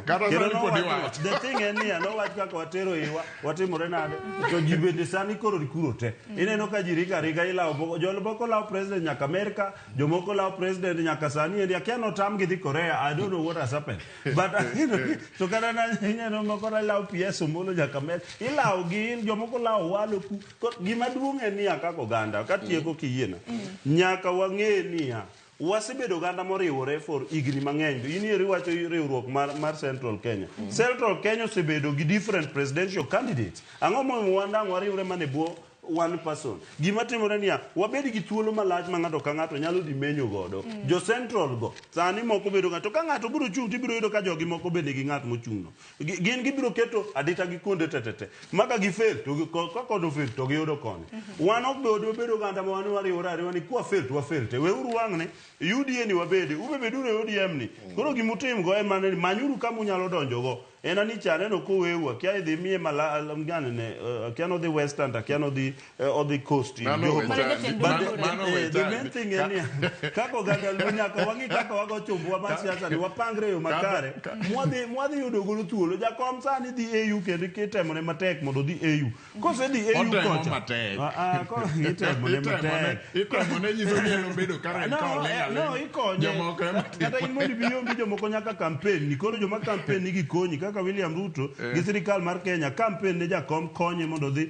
kata sani pod iwacho the thing en niya nowach kaka watero iwa watimore nade to ji bende sani koro rikuro te ineno ka ji rika rika ilawo boko jomoko lawo president nyaka amerika jomoko lawo president nyaka sani endi akia notam gi dhi korea i don't know what has happened but you know, to kata na ineno moko na lawo ps omolo nyaka amerika ilawo gi in jomoko lawo walo ku Ko- gima duong' en niya kaka oganda katieko kiyiena nyaka wang'e niya Wasebedo oganda moriwore for higni mang'eny. In eri wacho riwruok mar, mar Central Kenya. Mm. Central Kenya osebedo gi different presidential candidates. Ang'o momiyo wandang' wariwre mane bwo one person. Gima timore niya, wabed gi thuolo malach ma ng'ato ka ng'ato nyalo dhi menyo godo. Mm. Jo Central go, sani moko bedo ng'ato ka ng'ato biro chung' to ibiro yudo ka jogi moko bende gi ng'at mochung'no. Gi- gin gibiro keto adita gi kuonde tetete ma ka gifel to gi- ko- ka kodo fel to giyudo koni wan ok bedo wabedo oganda ma wan wariwore ariwa ni kwa fel to wafel te weuru wang'ne UDA ni wabede ube beduru e ODM ni koro gima utim go en mana ni manyuru kama unyalo donjo go en ani cha aneno koweu akia idhi miye mala gani ne eh, akia nodhi western to akia nodhi uh, or the coast in Mano Jogo. wecha- But the- mano- mano eh, wecha- the main thing en niya, kaka oganda luo nyaka wang'i kaka wago chumbuwa mar siasa ni wapangre e yo makare mwadhi mwadhi yudo godo thuolo jakom sani dhi au kendo kitemone matek mondo odhi au kosedhi au Otemo kocha matek. Ah, ah, ko- itemone Itemone- matek itemone nyiso ni en obedo Karen No, Cole, eh, ale- no, ikonye. jomoko ema timo. Kata in mondo ibi onge jomoko nyaka kampen ni koro joma kampen ni gikonyi kaka William Ruto gi sirikal mar Kenya kampen ne jakom konye mondo odhi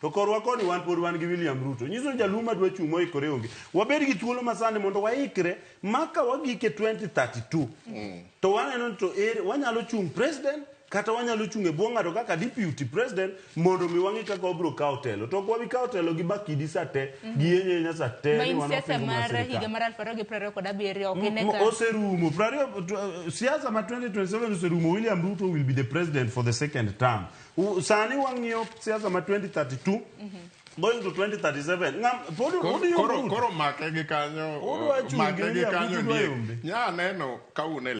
To korwa koni wan pod wan gi William Ruto. Nyiso ni jaluo ma dwa chung' moikore onge. Wabed gi thuolo masani mondo waikre ma ka wagike 2032. Mm. To waneno ni to ere wanyalo chung' president kata wanyalo chung' e bwo ng'ato kaka deputy president mondo mi wang'e kaka wabiro kawo telo. To ok wabi kawo telo gi bakidi sa te, mm. gi yenyo yenya sa te ni wan siasa mar higa mar 2027 ok mm, ine ka. Oserumo. 20 siasa ma 2027 oserumo. William Ruto will be the president for the second term. U- sani wang'iyo siasa ma 2032 going to 2037 Ng'am- pod Koro- pod koro yombo. koro make gi kanyo Udwa chungi make gi William kanyo Ruto Diek. yombe. nya neno ka un e